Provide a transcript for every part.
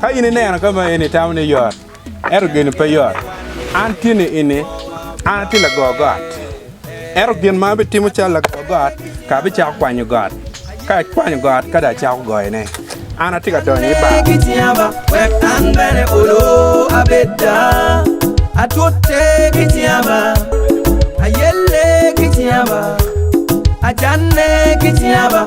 Ka in ineno ka ma eni itamo ni yot, ento gin pe yot. An tye ni ini, an atye lago got. Ento gin ma abitimo calo lago got, ka abicako kwanyo got, ka akwanyo got ka dong acako goyone, an atye ka donyo i bar. Ajanne ki cinga ba.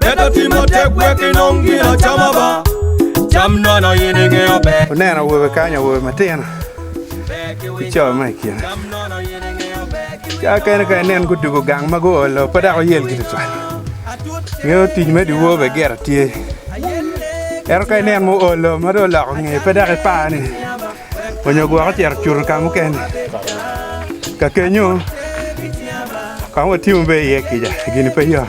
Bed ati matek wek inong gin acama ba, cam nono in ingeyo ber. Wuneno awobe kany, awobe matino ki co ma i kine. Ca kene ka inen gudugo gang ma guolo pe dok oyel ki tutwal. Ngeyo tic me dyewor bene gire tye. Ento ka inen muolo ma dong oloko ngeye pe dok ipar ni onyo gwok ocito cuto ka mukene. Kakenyo kong watimo be iye kica gini pe yot.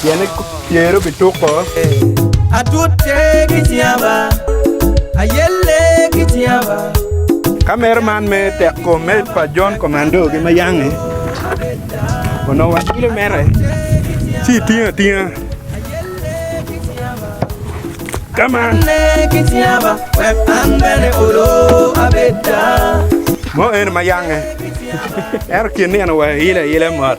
pien ker obi tuko. Atute ki cinga, ayelle ki cinga. Kamera man me tek kom me pa John Commando gi ma yange onongo wa kilo mere ci itingo atinga kama mo eno ma yange ento kin nino wa ile ile mot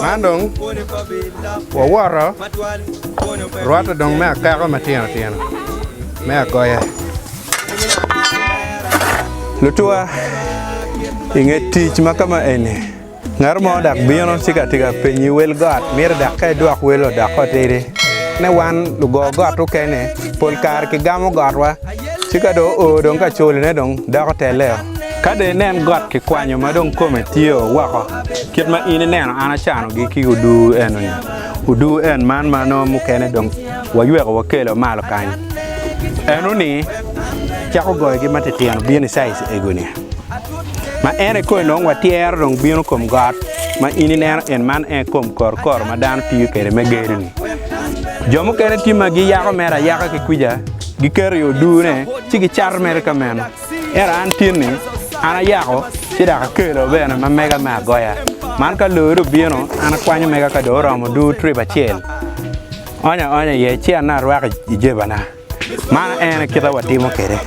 Man dong wawoto rwatte dong me akeko matino tino me agoya. Lutuwa inge tic ma kama eni ngat mo dak bino ci ka tika penyi wel got mito dak ka idwok wel odok otidi ne wan lugo got okene pol kare kigamo gotwa Ci ka dong oo dong ka colone dong doko telleo. Ka dong inen got kikwanyo ma dong kome tye o woko, kit ma in ineno an acanogi ki oduu eno-ni, oduu en man ma nongo mukene dong wayweko wakelo malo kany eno-ni, cako goyogi matitino bino i caic ego-ni. Ma en aye koni dong watyero dong bino kom got ma in ineno en man en aye kom korokoro ma dano tiyo kwede me gedo-ni. Jo mukene tye ma giyako mere ayaka ki kwica. Giketo i odune, ci gicato mere ka meno. Ento an tin-ni, an ayako ci dok akelo bene ma mega me agoya. Man ka loyo dong bino, an akwanyo mega ka dong oromo duu trip acel, aonyo aonya iye ci anongo arwako i jebana. Man aye kite ma watimo kwede.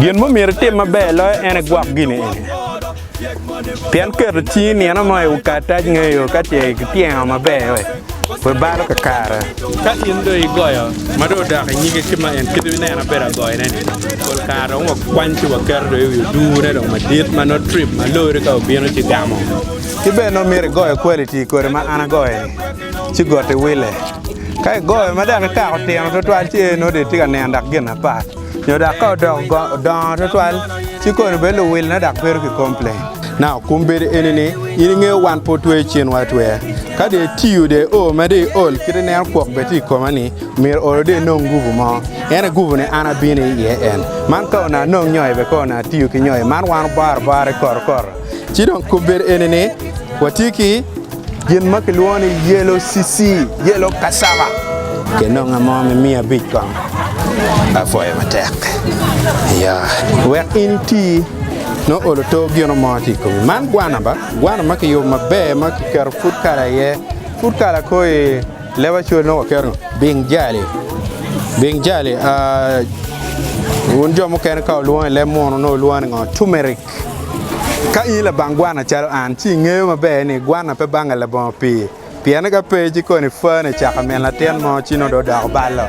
Gin ma omyero itim maber loyo en aye gwok gin eni. Pien keto cingi nino mo i ukarac ngeyo ka ce kipyengo maber we pe balo kakare. Ka in dong igoyo ma dong odok i nyige ki ma en kit ineno ma bedo agoyone-ni, pol kare dong wakwany ci waketo dong i wi odune dong madit ma nongo trip ma lori ka obino ci gamo. Ki bene nongo myero igoyo kwaliti kodi ma an agoyo-ni ci goti wille. Ka igoyo ma dok ikako tino twatwal ci nongo dong itye ka nino dok gin apat. Nyo dok ka odoko dongo twatwal, ci koni bedo luwilone dok bedo ki komplain. Now, kum bedo eni ni, in ingeyo wan pe otweyo cinwa atweya. Ka dong itiyo dong io ma dong iol kit ineno kwok bene tye i koma ni, myero olo dong inong nguvu mo. En aye guvu ni an abino iye en. Man ka onongo anong nyoi bene ka onongo atiyo ki nyoi man wan obaro bara ikoto koto. Ci dong kobere eni ni watye ki gin ma kilwongo ni yelo cici, yelo cassava. Kinonga mo me miya abic kong. Apwoyo matek. Yeah. Wek in iti nongo olo to gino mo tye i komi. Man gwana ba, gwana ma kiyubo maber ma kiketo food color iye. Food color ko i leb acwal nongo waketo ngo? Bing jali. Bing jali, ah, wun jo mukene ka olwongo i leb muno nongo olwongo ni ngo? Turmeric. Ka in labang gwana calo an, ci ingeyo maber ni gwana pe bange labongo pii. Pien ka pe, ci koni Fane ecako min latin mo, ci nongo dong odoko balo.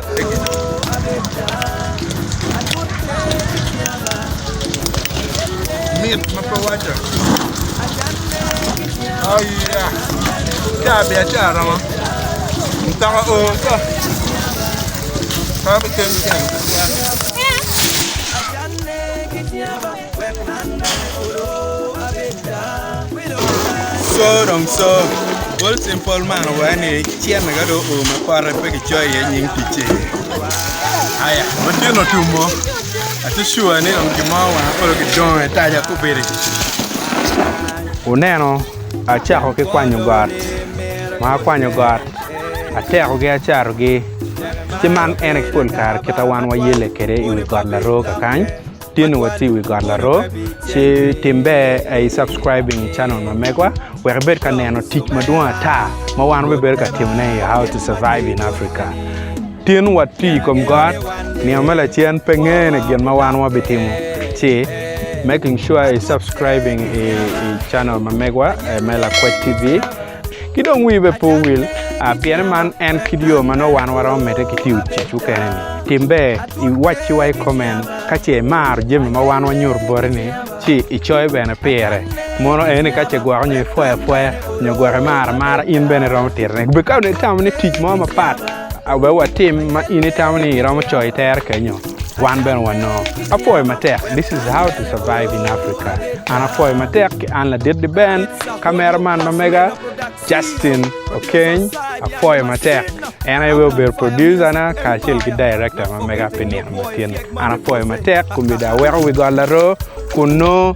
Wuneno, acako ki kwanyo got, ma akwanyo got, atekogi acarogi, ci man en aye pol kare kite ma wan wayelle kwede i wi got Laroo kakany. Tye nongo watye i wi got laroo ci tim ber a i subscribing i channel ma megwa wek ibed ka neno tic madwong ata ma wan wabibedo ka timone i How to Survive in Africa. Tin watye i kom got, nino me lacen pe ngene gin ma wan wabitimo ci making sure i subscribing i channel ma megwa me Lakwed TV. Ki dong wii bene pe owil, pien man en kit yo ma nongo wan waromo medde ki tiyo tic mukene-ni. Tim ber iwacciwa i koment ka ce imaro jami ma wan wanyuto boti-ni ci icoyo bene pire. Mono en ni ka ce igwoko nyo ipwoyo apwoya nyo gwok imaro amara, in bene iromo titone. Ka dong itamo ni tic mo mapat aye watim ma in itamo ni iromo coyo itere kenyo, Wan bene wanongo. Apwoyo matek This is how to survive in Africa An apwoyo matek ki An ladit di Ben Kamera man ma mega Justin Okeny Apwoyo matek En aye weng obedo producer na kacel ki director ma mega pi nino matini An apwoyo matek Komedi aweko wi got laroo kun nongo